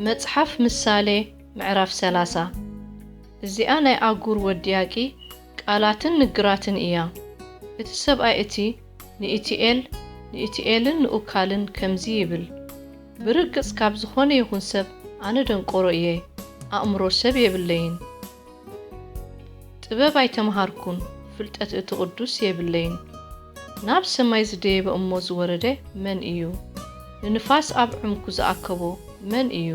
መጽሓፍ ምሳሌ ምዕራፍ ሰላሳ እዚኣ ናይ ኣጉር ወዲያቂ ቃላትን ንግራትን እያ። እቲ ሰብኣይ እቲ ንኢቲኤል ንኢቲኤልን ንኡካልን ከምዚ ይብል፣ ብርግጽ ካብ ዝኾነ ይኹን ሰብ ኣነ ደንቆሮ እየ፣ ኣእምሮ ሰብ የብለይን። ጥበብ ኣይተመሃርኩን ፍልጠት እቲ ቅዱስ የብለይን ናብ ሰማይ ዝደየበ እሞ ዝወረደ መን እዩ ንንፋስ ኣብ ዕምኩ ዝኣከቦ መን እዩ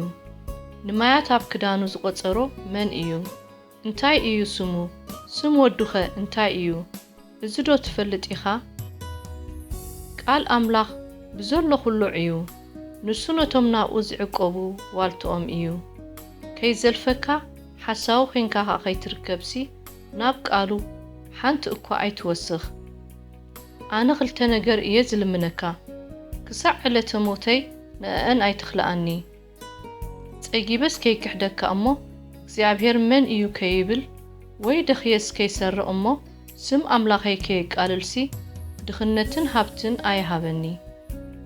ንማያት ኣብ ክዳኑ ዝቆጸሮ መን እዩ እንታይ እዩ ስሙ ስም ወዱኸ እንታይ እዩ እዚ ዶ ትፈልጥ ኢኻ? ቃል ኣምላኽ ብዘሎ ዅሉ ዕዩ፣ ንሱ ነቶም ናብኡ ዚዕቈቡ ዋልታኦም እዩ። ከይዘልፈካ፣ ሓሳዊ ዄንካ ኸኣ ኸይትርከብሲ፣ ናብ ቃሉ ሓንቲ እኳ ኣይትወስኽ። ኣነ ኽልተ ነገር እየ ዝልምነካ፣ ክሳዕ ዕለተ ሞተይ ንእኣን ኣይትኽልኣኒ። ጸጊበስ ከይክሕደካ እሞ እግዚኣብሔር መን እዩ ከይብል ወይ ደኽየስ ከይሰርቕ እሞ ስም ኣምላኸይ ከየቃልልሲ ድኽነትን ሃብትን ኣይሃበኒ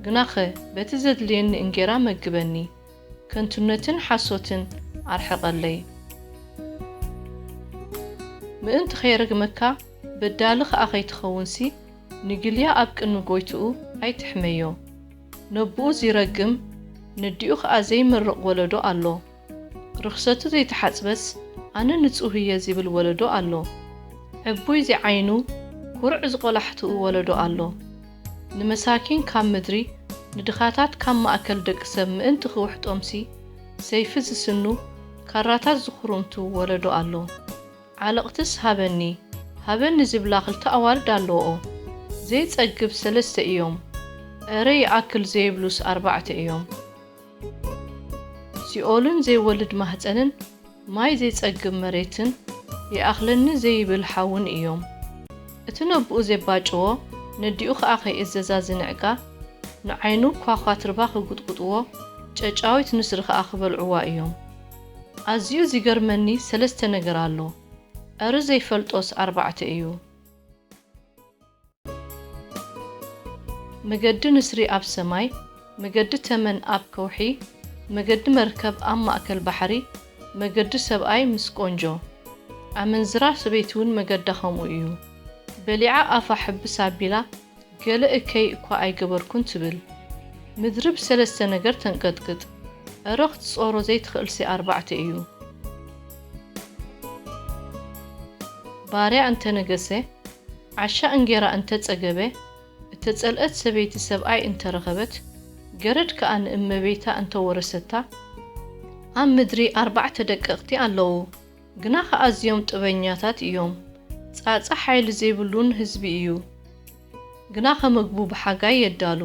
ግናኸ በቲ ዘድልየኒ እንጌራ መግበኒ ከንቱነትን ሓሶትን ኣርሕቐለይ ምእንቲ ከይረግመካ በዳሊ ኸኣ ከይትኸውንሲ ንግልያ ኣብ ቅድሚ ጎይትኡ ኣይትሕመዮ። ነቡኡ ዚረግም ነዲኡ ከኣ ዘይምርቕ ወለዶ ኣሎ። ርኽሰቱ ዘይተሓጽበስ ኣነ ንጹህ እየ ዚብል ወለዶ ኣሎ። ዕቡይ ዚዓይኑ ኩርዕ ዝቆላሕትኡ ወለዶ ኣሎ። ንመሳኪን ካብ ምድሪ ንድኻታት ካብ ማእከል ደቂ ሰብ ምእንቲ ኪውሕጦምሲ ሰይፊ ዚስኑ ካራታት ዚኹሩምቱ ወለዶ ኣሎ። ዓለቕትስ ሃበኒ ሃበኒ ዝብላ ክልተ ኣዋልድ ኣለወኦ ዘይጸግብ ሰለስተ ኢዮም እረ ይኣክል ዘይብሉስ ኣርባዕተ ኢዮም ሲኦልን ዘይወልድ ማህጸንን ማይ ዘይጸግብ መሬትን ይኣኽለኒ ዘይብል ሓውን ኢዮም እቲ ነቡኡ ዜባጭዎ ነዲኡ ከኣ ከይእዘዛ ዝንዕቃ ንዓይኑ ኳኳትርባ ክጉጥጉጥዎ ጨጫዊት ንስሪ ከኣ ክበልዕዋ ኢዮም። ኣዝዩ ዚገርመኒ ሰለስተ ነገር ኣሎ ኣረ ዘይፈልጦስ ኣርባዕተ እዩ። መገዲ ንስሪ ኣብ ሰማይ፣ መገዲ ተመን ኣብ ከውሒ፣ መገዲ መርከብ ኣብ ማእከል ባሕሪ፣ መገዲ ሰብኣይ ምስ ቆንጆ። ኣመንዝራ ሰበይቲውን መገዳ ከምኡ እዩ። በሊዓ ኣፋ ሕብስ ኣቢላ ገለ እከይ እኳ ኣይገበርኩን ትብል። ምድሪ ብሰለስተ ነገር ተንቀጥቅጥ። እረ ክትጾሮ ዘይትኽእልሲ ኣርባዕተ እዩ። ባርያ እንተ ነገሰ፣ ዓሻ እንጌራ እንተ ጸገበ፣ እተጸልእት ሰበይቲ ሰብኣይ እንተ ረኸበት፣ ገረድ ከኣ ንእመቤታ እንተ ወረሰታ፣ ኣብ ምድሪ ኣርባዕተ ደቀቕቲ ኣለዉ። ግናኸ ኣዝዮም ጥበኛታት እዮም። ጻጸ ሓይሊ ዘይብሉን ህዝቢ እዩ። ግናኸ መግቡ ብሓጋይ የዳሉ።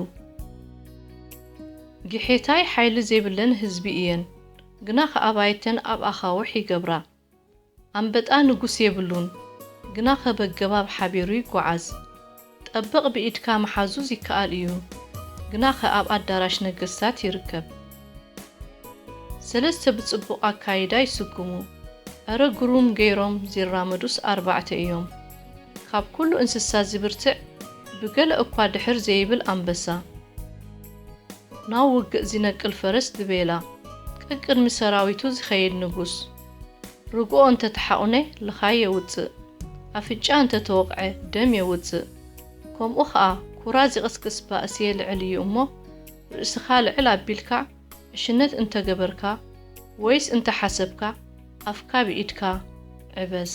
ጊሒታይ ሓይሊ ዘይብለን ህዝቢ እየን። ግናኸ ኣባይተን ኣብ ኣኻውሕ ይገብራ። ኣንበጣ ንጉስ የብሉን። ግናኸ በገባብ ሓቢሩ ይጐዓዝ። ጠብቕ ብኢድካ ምሓዙ ዚከኣል እዩ፣ ግናኸ ኣብ ኣዳራሽ ነገስታት ይርከብ። ሰለስተ ብጽቡቕ ኣካይዳ ይስጉሙ፣ ኣረ ግሩም ገይሮም ዚራመዱስ ኣርባዕተ እዮም። ካብ ኩሉ እንስሳ ዚብርትዕ፣ ብገለ እኳ ድሕር ዘይብል ኣንበሳ። ናብ ውግእ ዚነቅል ፈረስ ድቤላ፣ ቀቅድሚ ሰራዊቱ ዚኸይድ ንጉስ። ርግኦ እንተ ተሓቑነ ልኻይ የውጽእ፣ ኣፍንጫ እንተ ተወቕዐ ደም የውጽእ፣ ከምኡ ኸኣ ኩራ ዚቕስቅስ ባእሲ የልዕል እዩ እሞ፣ ርእስኻ ልዕል ኣቢልካ ዕሽነት እንተ ገበርካ ወይስ እንተ ሓሰብካ ኣፍካ ብኢድካ ዕበስ።